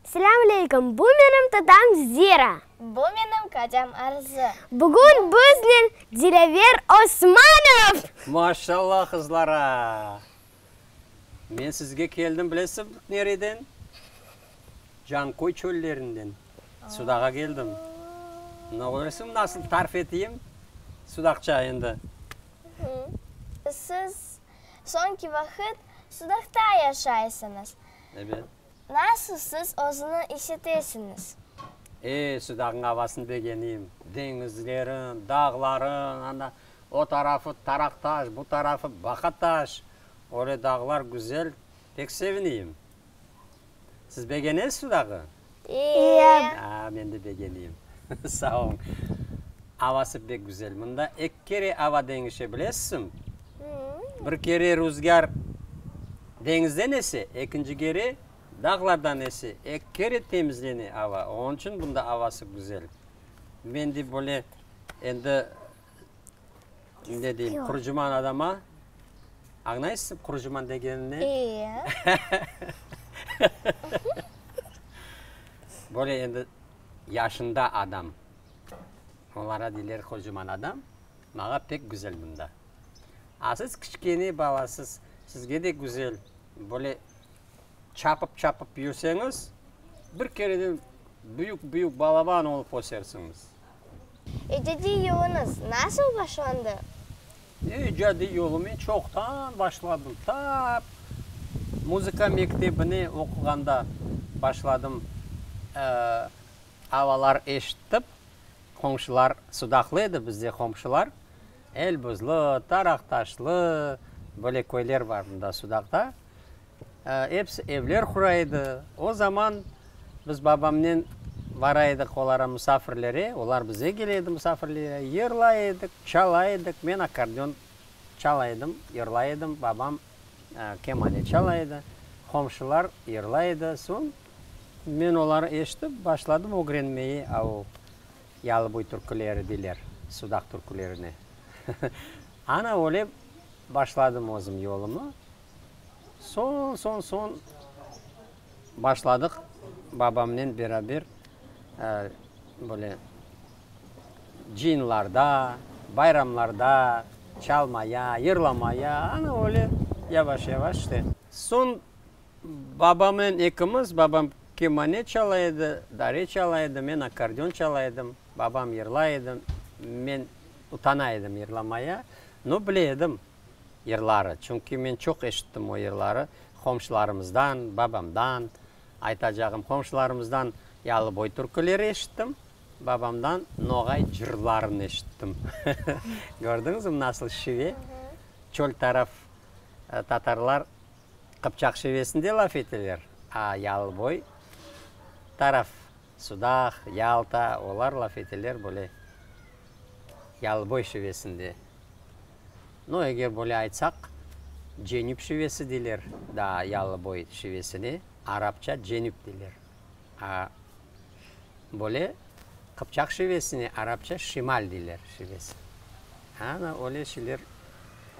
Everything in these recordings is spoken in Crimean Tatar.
Selâm aleyküm, bu menim tatam Zira. Bu menim qocam Arzı. Bugün biznen Dilever Osmanov! Maşallah qızlara! Men sizge keldim bilesiñizmi nereden? Canköy çöllerinden Sudağa keldim. Mına köresiñmi nasıl tarif eteyim Sudaqça endi. Siz soñki vaqıt Sudaqta yaşaysıñız. Evet. Nasıl siz özüni isitesiñiz? E, şu dağnıñ avasını begeniyim. Deñizlerin, dağların, ana, o tarafı Taraqtaş, bu tarafı Baqataş. Öyle dağlar güzel, pek seviniyim. Siz begenesiz şu dağı? İye. A, men de begeniyim. Sağ oluñ. Avası pek güzel. Mında eki kere ava deñişe, bilesizmi? Bir kere ruzgâr deñizden ese, ekinci kere dağlardan ese, eki kere temizlene ava. Onıñ içün bunda avası güzel. Men de böyle endi, ne deyim, qurucuman adama, añlaysız qurucuman degenimni? Eee. Böyle endi yaşında adam, olara deyler qurucuman adam. Maña pek güzel bunda. A siz kiçkene balasız, sizge de güzel. Böyle çapıp-çapıp yürseñiz, bir kereden büyük-büyük balaban olıp ösersiñiz. İcadiy yoluñız nasıl başlandı? E, icadiy yolu men çoqtan başladım. Ta muzıka mektebine oquğanda başladım. Ee, avalar eşittip. Qomşular sudaqlı edi, bizde qomşular, Elbuzlu, Taraqtaşlı, böyle köyler bar bunda sudaqta. Episi evler qura edi. O zaman biz babamnen bara edik olara musafirlere, olar bize kele edi musafirlere, yırlay edik, çalay edik. Men akkordeon çalay edim, yırlay edim, babam kemane çalay edi, qomşular yırlay edi. Soñ. Men oları eşitip, başladım ögrenmeye, au, yalıboy türküleri deyler, sudaq türkülerine. Ana öyle başladım özüm yolumı. Soñ, soñ, soñ başladıq babamnen beraber, böyle, cıyınlarda, bayramlarda çalmaya, yırlamaya, ana öyle yavaş-yavaş işte. Soñ Babamnen ekimiz, babam kemanet çala edi, dare çala edi, men akkordeon çala edim. Babam yırlay edi, men utana edim yırlamaya. No, bile edim yırları, çünki men çoq eşittim o yırları qomşularımızdan, babamdan. Aytacağım, qomşularımızdan Yalıboy türküleri eşittim, babamdan Noğay cırlarını eşittim. Kördiñizmi, nasıl şive? Çöl taraf tatarlar Qıpçaq şivesinde laf eteler, a Yalıboy taraf, Sudaq, Yalta, olar laf eteler böyle Yalıboy şivesinde. No, eger böyle aytsaq, Cenüp şivesi, deyler, daa Yalıboy şivesine arapça Cenüp deyler. Böyle qıpçaq şivesine arapça şimal deyler şivesi. Ana öyle şeyler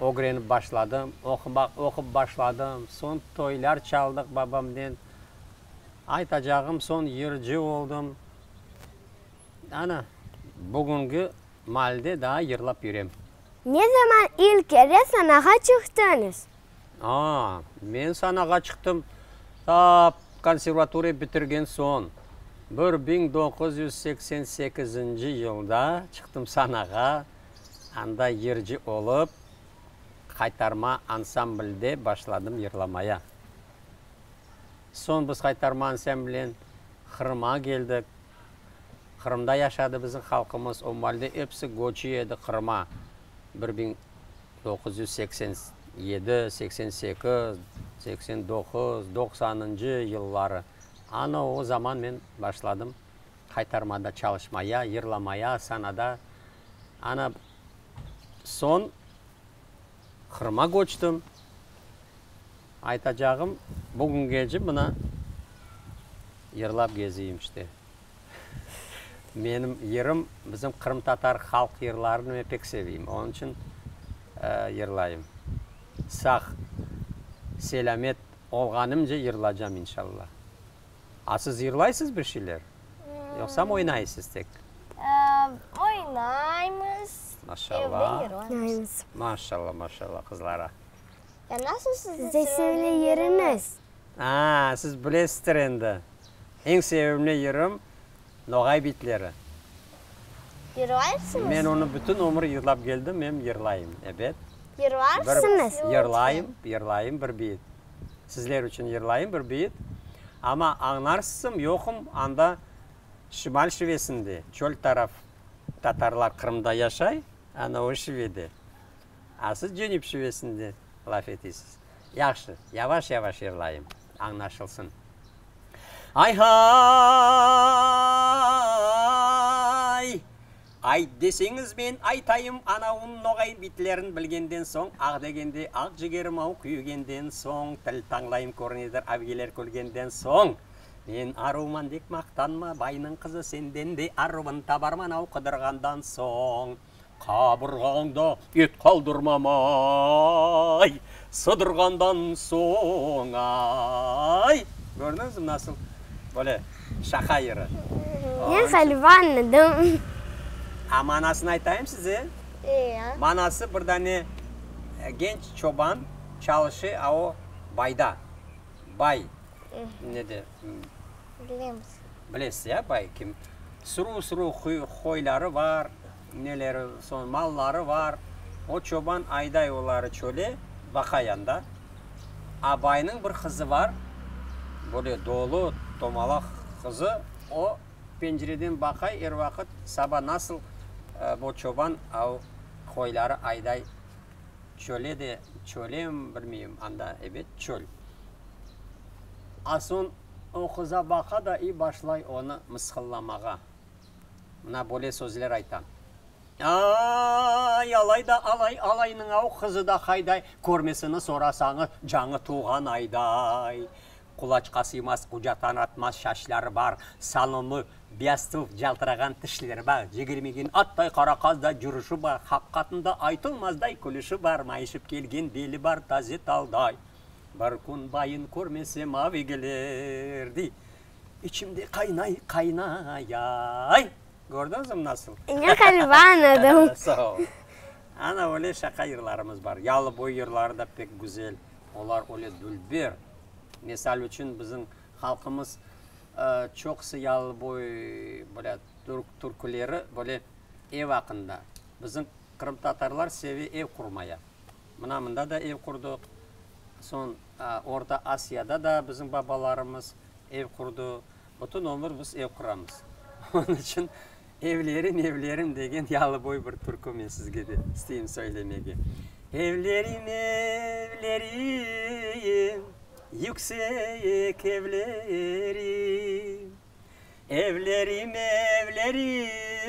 ögrenip başladım, oqup başladım. Soñ toylar çaldıq babamnen. Aytacağım, soñ yırcı oldım. Ana, bugünki malde daa yırlap yürem. Ne zaman ilk kere sanağa çıqtıñız? Aa, men sanağa çıqtım tap konservatoriya bitirgen soñ. Bir biñ doquz yüz seksen sekizinci yılda çıqtım sanağa, anda yırcı olıp, Qaytarma ansamblde başladım yırlamaya. Soñ biz Qaytarma ansamblen Qırım'a keldik. Qırımda yaşadı bizim halqımız, o malde episi göçü edi Qırım'a bir biñ Doquz yüz seksen yedi, seksen sekiz, seksen doquz, doqsanıncı yılları, ana o zaman men başladım qaytarmada çalışmaya, yırlamaya, Astanada. Ana soñ Qırım'a köçtim. Aytacağım, bugüngece mına yırlap geziyim işte. Menim yırım, bizim qırımtatar halq yırlarını men pek seveyim, onıñ içün yırlayım. Sağ, selâmet olğanımca yırlacam, inşalla. A siz yırlaysız bir şeyler, yoqsam oynaysız tek? Oynaymız, evde yırlaymız. Maşalla, maşalla qızlara. Nasıl sizde sevimli yırıñız? Aa, siz bilesizdir endi. Eñ sevimli yırım, Noğay bitleri. Yırlaysıñız? Men onı bütün ömür yırlap keldim, em yırlayım, ebet. Yırlarsıñız? Yırlayım, yırlayım bir biyit. Sizler içün yırlayım bir biyit. Amma añlarsızm, yoqum anda şimal şivesinde, çöl taraf. Tatarlar Qırımda yaşay, ana o şivede. A siz Cenüp şivesinde laf etisiz. Yahşı, yavaş-yavaş yırlayım, añlaşılsın. Ay-hay! Ayt deseñiz, men aytayım, anauın noğay bitlerin bilgenden soñ, ah degende, ah cigerim-au, küyügenden soñ, til tañlayım körünedir, avgiler külgenden soñ. Men aruvman dek maqtanma, baynıñ qızı senden de aruvın tabarman-au, qudırğandan soñ. Qaburğañda et qaldırmamay, sıdırğandan soñay. Kördiñizmi, nasıl böyle şaqa yırı? Men Salivan edim. A manasını aytayım size? Eee. Manası, bir dane genç çoban çalışı a o bayda, bay, ne de. Bilemiz. Bilesiz ya, bay kim? Sürü-sürü qoyları bar, neleri, soñ malları bar. O çoban ayday oları çöle, vaqa yanda. A baynıñ bir qızı bar, böyle dolu, tomalaq qızı. O pencireden baqay er vaqıt, saba nasıl bu çoban qoyları ayday çöle de, çölem, bilmeyim, anda, ebet, çöl. a soñ o qıza baqa da i başlay onı mısqıllamağa. Mına böyle sözler ayta, Ay-ay, alay da alay, alaynıñ-au, qızı da qayday, körmesini sorasañız, cañı tuvğan ayday. Qulaçqa sıymaz, qucatan atmaz şaşları bar, salonlı, biyaztuv, caltırağan tişleri bar, jigirmigin atday qara qazday cürüşi bar, haqqatında aytılmazday külüşi bar, mayışıp kelgen beli bar, taze talday. Bir kün bayın körmesem avigiler, dey, içimde qaynay, qaynayay. Kördiñizmi nasıl? Yoq, ğaliba añladım. Sağ ol. Ana öyle şaqa yırlarımız bar. Yalıboy yırları da pek güzel. Olar öyle dülber. Misal içün, bizim halqımız çoqusı Yalıboy, böyle, türküleri böyle ev aqqında, bizim. Qırımtatarlar seve ev qurmaya. Mına mında da ev qurdıq. Soñ Orta Asiyada da bizim babalarımız ev qurdu. Bütün ömür biz ev quramız. Onıñ içün Evlerim, evlerim degen yalıboy bir türkü men sizge de isteyim söylemege. Evlerim, evlerim, yüksek evlerim. Evlerim, evlerim.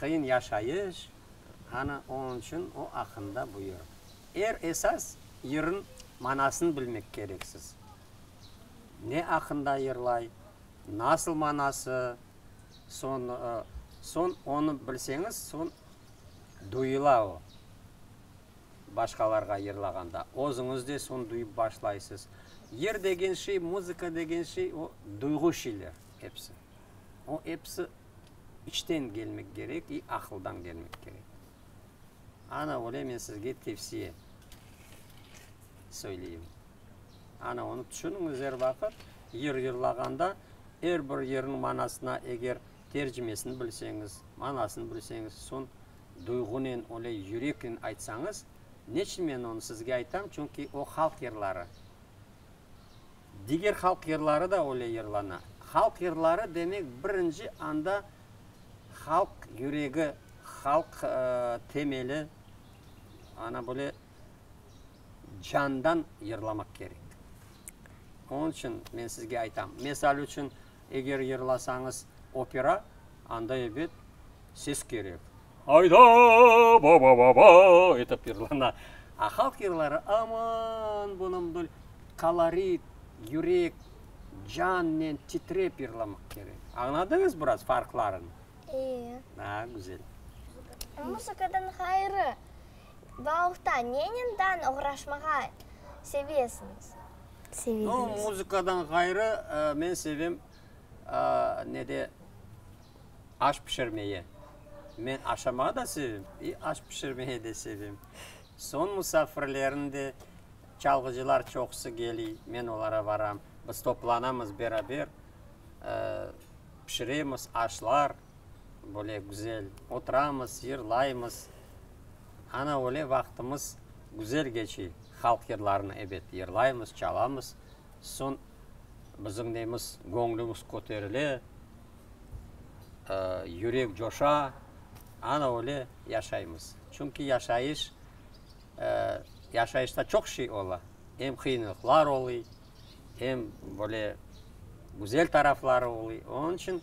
Qıyın yaşayış, ana oñ içün o aqqında buyur. Er esas yırın manasın bilmek kereksiz. Ne aqqında yırlay, nasıl manası, soñ, soñ onı bilseñiz, soñ duyula o. Başqalarğa yırlağanda, özüñiz de soñ duyıp başlaysız. Yır degen şey, muzıka degen şey, o duyğu şeyler episi. O episi içten gelmek kerek i aqıldan gelmek kerek. Ana öyle men sizge tevsiye söyleyim. Ana onı tüşüniñiz er vaqıt, yır yırlağanda er bir yırnıñ manasına eger tercimesini bilseñiz, manasını bilseñiz, soñ duyğunen, öyle yüreknen aytsañız, neçün men onı sizge aytam, çünki o halq yırları. Diger halq yırları da öyle yırlana. Halq yırları demek birinci anda halq yüregi, halq temeli, ana böyle candan yırlamaq kerek. Onıñ içün men sizge aytam, mesal içün, Eger yırlasañız opera, anda, ebet, ses kerek. Ayda, ba-ba-ba-ba! etip yırlana. A halq yırları, aman, bunıñ bir kolorit, yürek, cannen titrep yırlamaq kerek. Añladıñız biraz farqlarını? Ee. A, güzel. Muzıkadan ğayrı, bauhta nenen dan oğraşmağa sevesiñiz? seveydiniz? No, muzıkadan ğayrı, men sevem, ne de, aş pişirmege. Men aşamağı da sevem, i aş pişirmege de sevem. Soñ musafirlerni de, çalğıcılar çoqusı keliy, men olara baram. Biz toplanamız beraber, pişiremiz aşlar, böyle güzel oturamız, yırlaymız. Ana, öyle vaqtımız güzel geçiy, halq yırlarını ebet yırlaymız, çalamız, soñ bizim neymiz, göñlümiz köterile, yürek coşa, ana, öyle yaşaymız. Çünki yaşayış, yaşayışta çoq şey ola, em qıyınlıqlar oluy, em böyle güzel tarafları oluy. Onıñ içün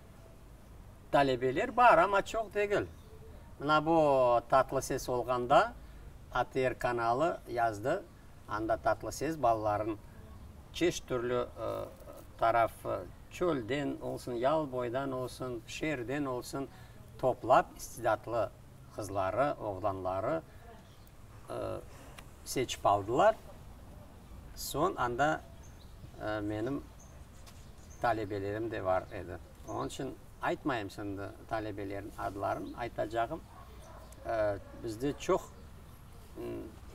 Talebeler bar, amma çoq degil. Mına bu Tatlı ses olğanda ATR kanalı yazdı, anda Tatlı ses balaların çeşit türlü taraf, çölden olsun, yal boydan olsun, şeerden olsun, toplap, istidatlı qızları, oğlanları seçip aldılar. Soñ anda menim talebelerim de bar edi. Onıñ içün aytmayım şimdi talebelerim adlarını, aytacağım, bizde çoq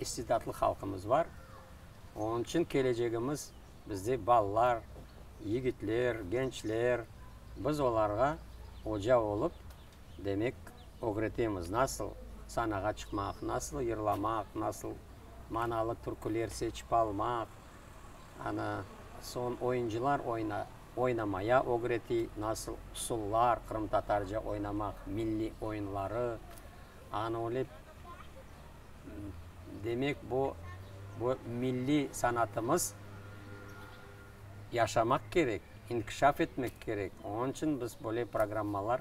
istidatlı halqımız bar. Onıñ içün kelecegimiz bizde balalar, yigitler, gençler, biz olarğa oca olıp, Demek, ögretemiz, nasıl sanağa çıqmaq, nasıl yırlamaq, nasıl manalı türküler seçip almaq, ana, soñ oyuncılar oyna, oynamaya ögretiy, nasıl usullar, qırımtatarca oynamaq, milliy oyunları, ana, öyle, demek, bu, bu milliy sanatımız. yaşamaq kerek, inkişaf etmek kerek. Onıñ içün biz böyle programmalar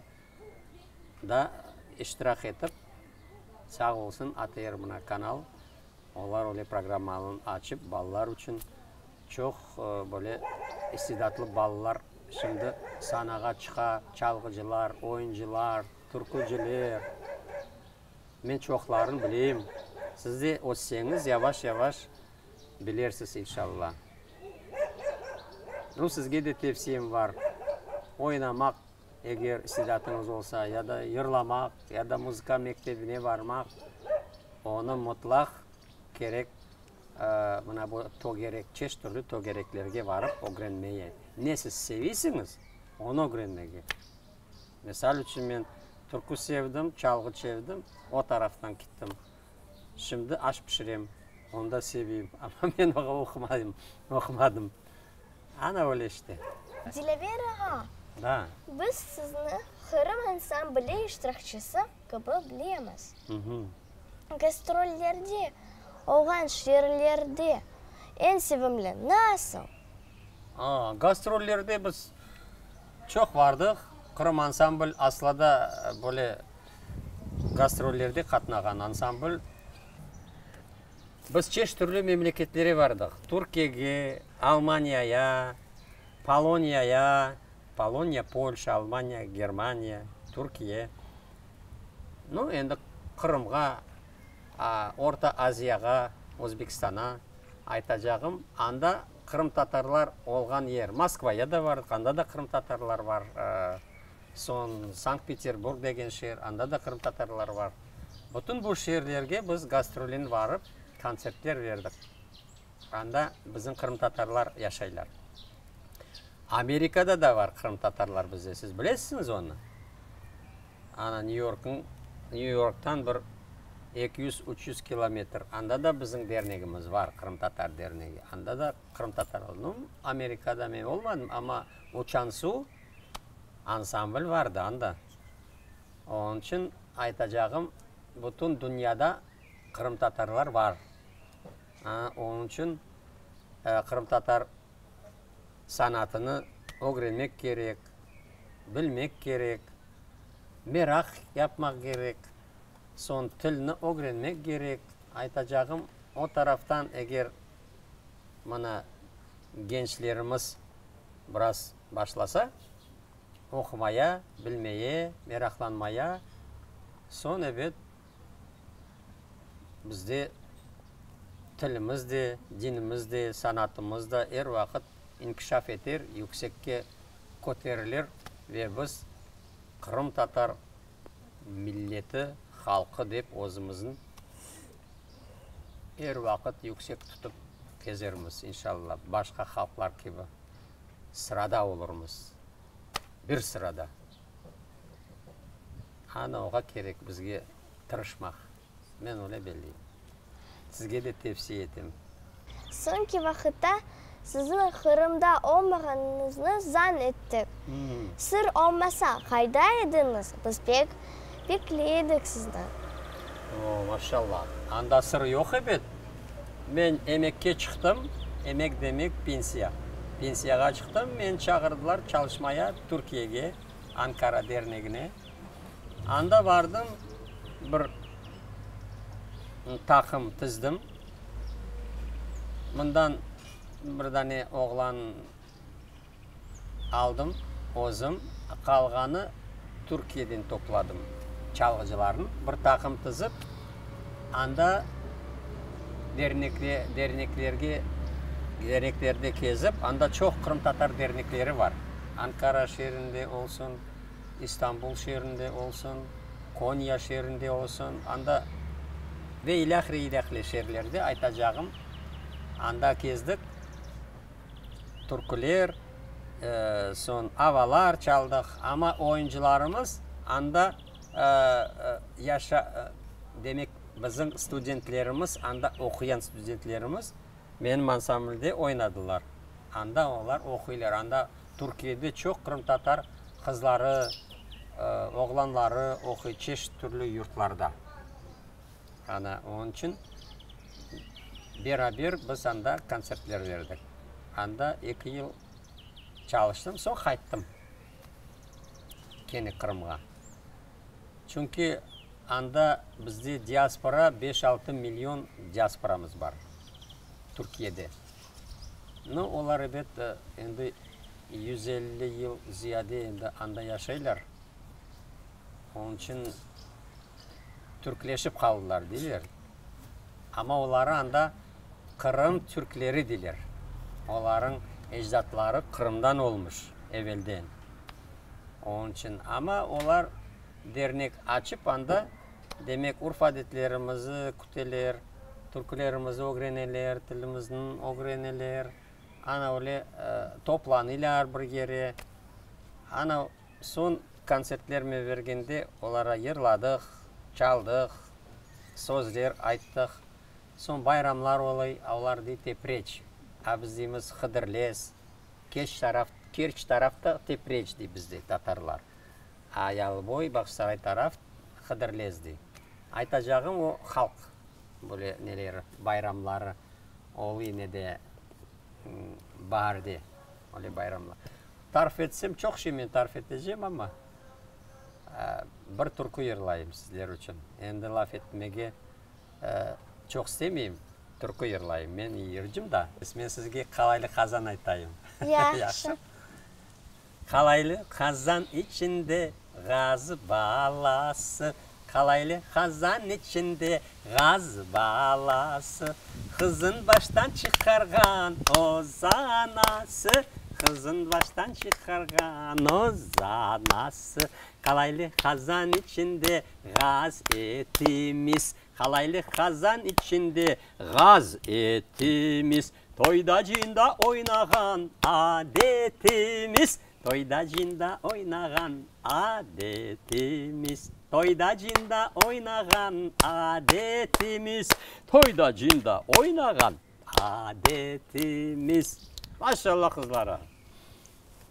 da iştirak etip, sağ olsun ATR mına kanal, olar öyle programmalarnı açıp, balalar içün çoq böyle istidatlı balalar şimdi sanağa çıqa, çalğıcılar, oyuncılar, türkücüler. Men çoqlarını bileyim. Siz de ötseñiz, yavaş-yavaş. bilersiz inşalla. Bu sizge de tevsiyem bar, oynamaq, eger istidatıñız olsa, ya da yırlamaq, ya da muzıka mektebine barmaq, onı mutlaq kerek, mına bu tögerek, çeşit türlü tögereklerge barıp ögrenmege. Ne siz sevisiñiz, onı ögrenmege. Misal içün, men türkü sevdim, çalğı çevdim, o taraftan kittim. Şimdi aş pişirem, onda seveyim, amma men oña oqumayım, oqumadım. Ana öyle işte. Dilevera ha, Da. biz sizni Qırım ansamble iştirakçisi kibi bilemiz. Uhmm. Gastrollerde olğan şiirlerde eñ sevimli nasıl? A, gastrollerde biz çoq bardıq. Qırım ansambl aslada böyle. Gastrollerde qatnağan ansambl biz çeşit türlü memleketlere bardıq, Türkiyege, Almaniyaya, Poloniyaya, Poloniya, Polşa, Almaniya, Germaniya, Türkiye, no, endi Qırımğa, Orta Aziyağa, Özbekistana. Aytacağım, anda qırımtatarlar olğan yer, Moskvaya da bardıq, anda da qırımtatarlar bar. Soñ Sankt-Peterburg degen şeer, anda da qırımtatarlar bar. Bütün bu şeerlerge biz gastrolen barıp, kontsertler berdik. Anda bizim qırımtatarlar yaşaylar. Amerikada da bar qırımtatarlar bizde, siz bilesisiniz onı? Ana Nyu-Yorknıñ, Nyu-Yorktan bir eki yüz, üç yüz kilometr, anda da bizim dernegimiz bar, qırımtatar dernegi. Anda da qırımtatar. Amerikada men olmadım, amma uçan suv. ansambl vardı anda. Onıñ içün aytacağım, bütün dünyada qırımtatarlar bar. Onıñ içün qırımtatar sanatını ögrenmek kerek, bilmek kerek, meraq yapmaq kerek, soñ tilni ögrenmek kerek. Aytacağım, o taraftan eger, mana, gençlerimiz biraz. başlasa, oqumaya, bilmeye, meraqlanmaya, soñ, ebet, bizde tilimiz de, dinimiz de, sanatımız da er vaqıt inkişaf eter, yüksekke köterilir ve biz qırımtatar milleti, halqı dep özümüzni er vaqıt yüksek tutıp kezermiz, inşallah, başqa halqlar kibi. sırada olurmız, bir sırada. Ana, oğa kerek bizge tırışmaq, men öyle belleyim. Sizge de tevsiye etem. Soñki vaqıtta siziñ Qırımda olmağanıñıznı zan ettik. Sır olmasa, qayda ediñiz? Biz pek bekley edik sizni. O, maşallah, anda sır yoq ebet. Men emekke çıqtım, emek demek pensiya. Pensiyağa çıqtım, meni çağırdılar çalışmaya Türkiyege, Ankara dernegine. Anda bardım, bir taqım tizdim. Mından bir dane oğlan. aldım özüm, qalğanı Türkiyeden topladım. Çalğıcılarnı bir taqım tizip, anda dernekle, derneklerge, derneklerde kezip, anda çoq qırımtatar dernekleri var. Ankara şeerinde olsun, İstanbul şeerinde olsun, Konya şeerinde olsun, anda ve ilâhre-ilâhre şeerlerde aytacağım, anda kezdik. türküler, soñ avalar çaldıq, amma oyuncılarımız anda demek, bizim studentlerimiz, anda oquyan studentlerimiz menim ansamblde oynadılar. Anda olar oquylar, anda Türkiyede çoq qırımtatar qızları, oğlanları oquy, çeşit türlü yurtlarda. Ana onıñ içün beraber biz anda kontsertler berdik. Anda eki yıl çalıştım, soñ qayttım kene Qırımğa. Çünki anda bizde diaspora, beş-altı million diasporamız bar Türkiyede. No, olar, ebet, endi yüz elli yıl ziyade endi anda yaşaylar. Onıñ içün. türkleşip qaldılar, deyler. Amma oları anda Qırım türkleri deyler. Olarıñ ecdatları Qırımdan olmuş evelden. Onıñ içün. Amma olar dernek açıp anda, demek, urf-adetlerimizni küteler, türkülerimizni ögreneler, tilimizni ögreneler, ana öyle toplanılar bir yere. Ana, Soñ kontsertlermi bergende olara yırladıq, çaldıq, sözler ayttıq. Soñ bayramlar olay, olar dey tepreç, a biz deymiz hıdırlez, keç taraf, kerç tarafta tepreç dey bizde tatarlar, a yalıboy, Bağçasaray taraf hıdırlez dey. Aytacağım o halq böyle neleri, bayramları olay ne de. baarde, öyle bayramla. Tarif etsem, çoq şey men tarif etecem, amma bir türkü yırlayım sizler içün. Endi laf etmege çoq istemeyim, türkü yırlayım. Men yırcım da. Men sizge qalaylıq azan aytayım. Yahşı. Qalaylı qazan içinde ğaz balası, Qalaylı qazan içinde ğaz balası, Qızın baştan çıqarğan öz anası, Qızın baştan çıqarğan öz anası. Qalaylı qazan içinde ğaz etimiz, Qalaylı qazan içinde ğaz etimiz, Toyda-cıyında oynağan adetimiz, Toyda-cıyında oynağan adetimiz, Toyda-cıyında oynağan adetimiz, Toyda-cıyında oynağan adetimiz. Maşallah qızlarım!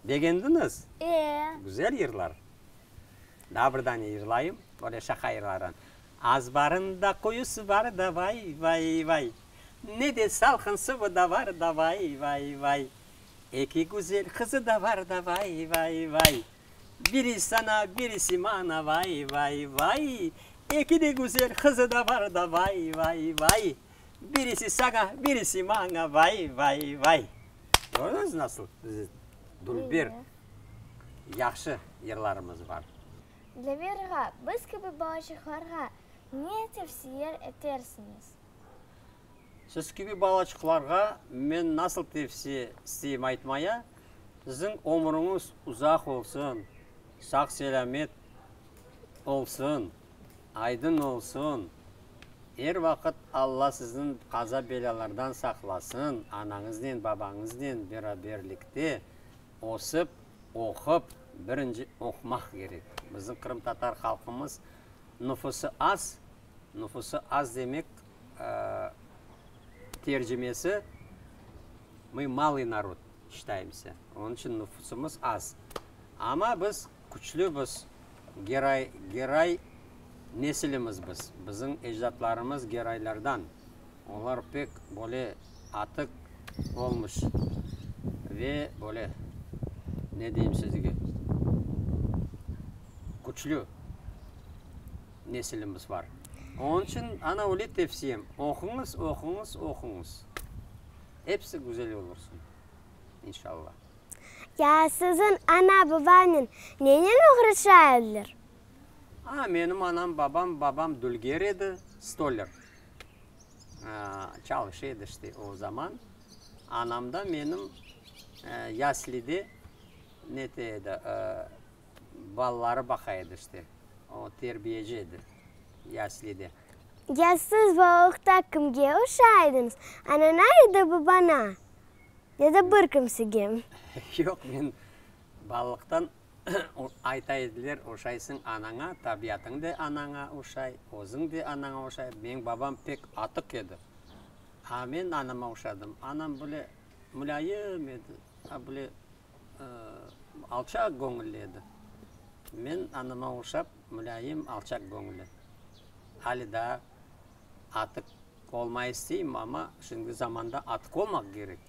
Begendiñiz? E. Güzel yırlar. Daa bir dane yırlayım, böyle şaqa yırları. Azbarında quyusı bar da vay, vay, vay. Ne de salqın suvu da var da vay, vay, vay. Eki güzel qızı da var da vay, vay, vay. Biri sana, birisi mana vay, vay, vay. Eki de güzel qızı da var da vay, vay, vay. Birisi sana, birisi mana vay, vay, vay. Gördüñiz nasıl bizim Dülber yahşı yırlarımız var. Dleberğa, biz kibi balaçıqlarğa ne tevsiye etersiñiz? Siz kibi balaçıqlarğa men nasıl tevsiye isteyim aytmaya, siziñ ömrüñiz uzaq olsun, sağ-selâmet olsun, aydın olsun, er vaqıt Alla sizni qaza-belâlardan saqlasın, anañıznen, babañıznen beraberlikte ösip, oqup, birinci oqumaq kerek. Bizim qırımtatar halqımız nüfusı az, Nüfusı az demek tercimesi, mı malıyy narod şitaymısı, onıñ içün nüfusımız az. Amma biz küçlü, biz geray, geray nesilimiz biz. Bizim ecdatlarımız geraylardan. Olar pek böyle atıq olmuş ve böyle, ne deyim sizge, küçlü. nesilimiz bar. Onıñ içün ana öyle tevsiyem, oquñız, oquñız, oquñız. Episi güzel olursun, inşallah. Ya siziñ ana-babañnen nenen uğraşa ediler? Aa, menim anam-babam, babam dülger edi, stoler. Çalışa edi işte o zaman. Anam da menim yaslide nete edi, Balaları baqa edi işte. O terbiyeci edi yaslide. Ya siz balalıqta kimge oşa ediñiz, anana ya da babana? Ya da bir kimsege? Yoq, men balalıqtan ayta ediler, oşaysıñ anaña, tabiatıñ da anaña oşay, özüñ de anaña oşay. Meñ babam pek atıq edi. A men anama oşadım. Anam böyle mulâyım edi, a böyle alçaq göñülli edi. Men anama oşap, mulâyim, alçaq göñülli. Ali daa atıq olmay isteyim, amma şimdiki zamanda atıq olmaq kerek.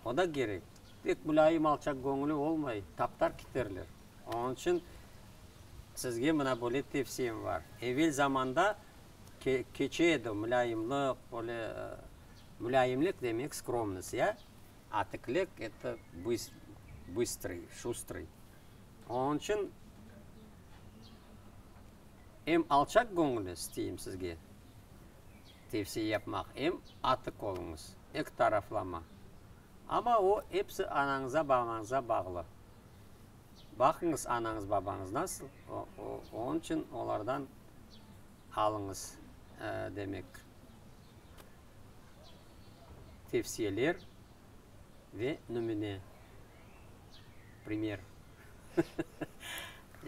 O da kerek. Tek mulâyim, alçaq göñülli olmay, taptar keterler. Onıñ içün sizge mına böyle tevsiyem bar. Evel zamanda keçe edi mulâyimlik, böyle mulâyimlik demek, skromnost, ya? Atiklek etti bıstrıy, şustrıy. Onıñ içün em alçaq göñülli isteyim sizge tevsiye yapmaq, em atik oluñız, eki taraflama. Amma o, episi anañıza, babañıza bağlı. Baqıñız anañız, babañız nasıl, onıñ içün olardan alıñız, demek. Tevsiyeler ve nümüne, primer.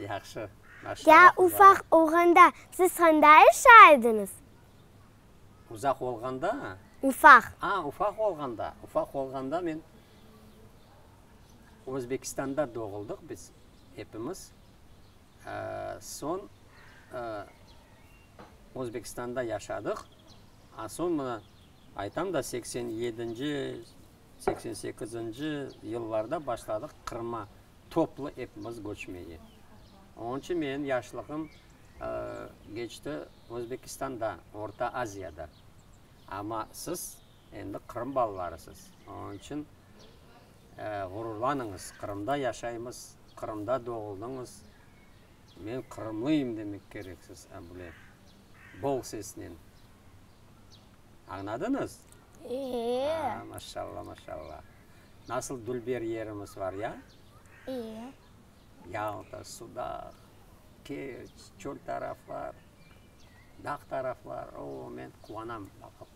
Yahşı, maşallah. Ya ufaq olğanda siz qanda yaşa ediñiz? Uzaq olğanda? Ufaq. A, ufaq olğanda. Ufaq olğanda men Özbekistanda doğuldıq biz, epimiz. Soñ Özbekistanda yaşadıq, a soñ mına aytam da, seksen yedinci, seksen sekizinci yıllarda başladıq Qırım'a toplu epimiz köçmege. Onıñ içün menim yaşlığım keçti Özbekistanda, Orta Aziyada. Amma siz endi Qırım balalarısız, onıñ içün ğururlanıñız, Qırımda yaşaymız, Qırımda doğuldıñız. Men qırımlıyım demek kerek siz Ambulep, boğ sesnen. Añladıñız? İyi. Aa, maşalla, maşalla. Nasıl dülber yerimiz var ya? İyi. Yalta, Sudaq, Kerç, çöl taraflar. Dağ taraflar, oo, men quvanam baqıp.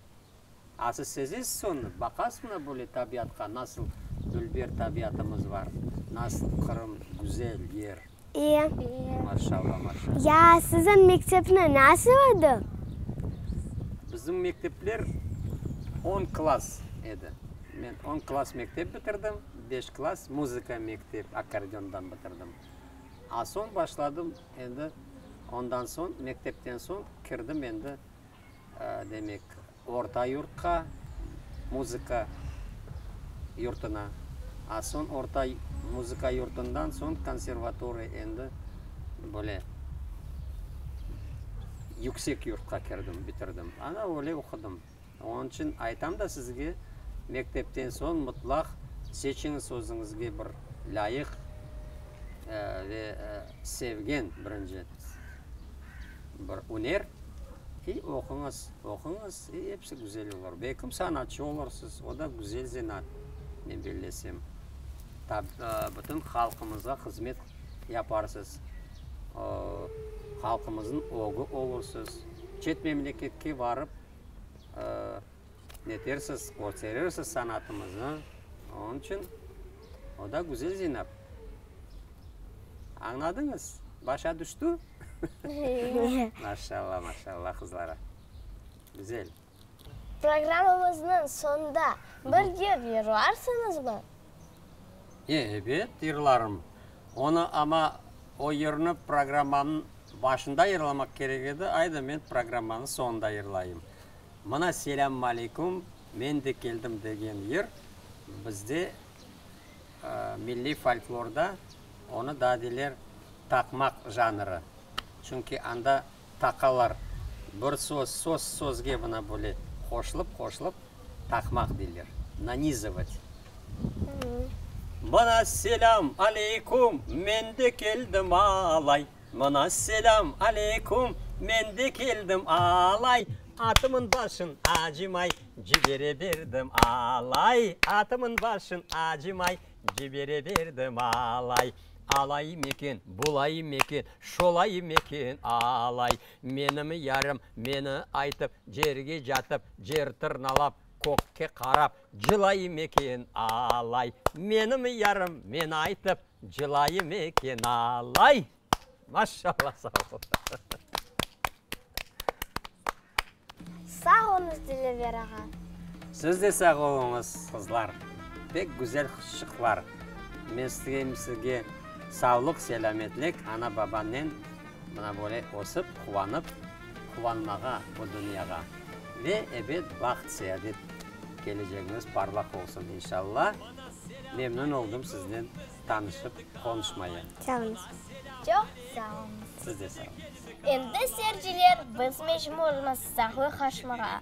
A siz sezesiz sonı, baqasıña böyle tabiatqa, nasıl dülber tabiatımız bar, nasıl Qırım güzel yer. İyi. İyi. Maşallah, maşallah. Ya siziñ mektepni nasıl edi? Bizim mektepler on klass edi. Men on klass mektep bitirdim, beş klass muzıka mektep, akkordeondan bitirdim. A soñ başladım Endi ondan soñ, mektepten soñ kirdim endi, demek, orta yurtqa, muzıka yurtuna. A soñ orta muzıka yurtundan soñ konservatoriya, endi böyle yüksek yurtqa kirdim, bitirdim. Ana, öyle oqudım. Onıñ içün aytam da sizge, mektepten soñ mutlaq seçiñiz özüñizge bir lâyıq ve sevgen, birinci, bir üner, i oquñız, oquñız, i episi güzel olur. Belkim sanatçı olursız, o da güzel zenaat, men bellesem. Bütün halqımızğa hızmet yaparsız, halqımıznıñ ögü olursız. Çet memleketke barıp, netersiz, körserirsiz sanatımıznı, onıñ içün o da güzel Zeynep. Añladıñız, başa düştü? Maşallah, maşallah qızlara. Güzel. Programmamıznıñ soñunda bir yır yırlarsıñızmı? Ebet, yırlarım. Onı, amma o yırnı programmamnıñ Başında yırlamaq kerek edi, ayda men programmanıñ soñunda yırlayım. Mına Selâmmaleykum, men de keldim degen yır bizde milliy folklorda onı daa deyler taqmaq janrı. Çünki anda taqalar bir söz, söz sözge mına böyle qoşılıp-qoşılıp. Taqmaq deyler, nanizovat. Mına selâm aleyküm, men de keldim alay, Mına selâm aleyküm, men de keldim alay, Atımın başın acımay, cibereberdim alay, Atımın başın acımay, cibereberdim alay. Alayım eken, bulayım eken, şolayım eken alay, Menim yarım meni aytıp, Cerge catıp, cer tırnalap, Kökke qarap, cılayım eken alay. Menim yarım meni aytıp, Cılayım eken alay. Maşallah, sağ ol. Sağ olunız Dilever ağa. Siz de sağ oluñız qızlar. Pek güzel qısçıqlar. Men isteyim sizge savlıq, selâmetlik, ana-babannen. Mına böyle ösip, quvanıp, quvanmağa bu dünyağa ve ebet baht, seadet, kelecegiñiz parlaq olsun, inşalla! Memnün oldım siznen tanışıp, qonuşmaya. Sağlıñız. Çoq sağ olunız. Siz de sağ olunız. Endi seyirciler biz mecburmız sağlıqaşmağa.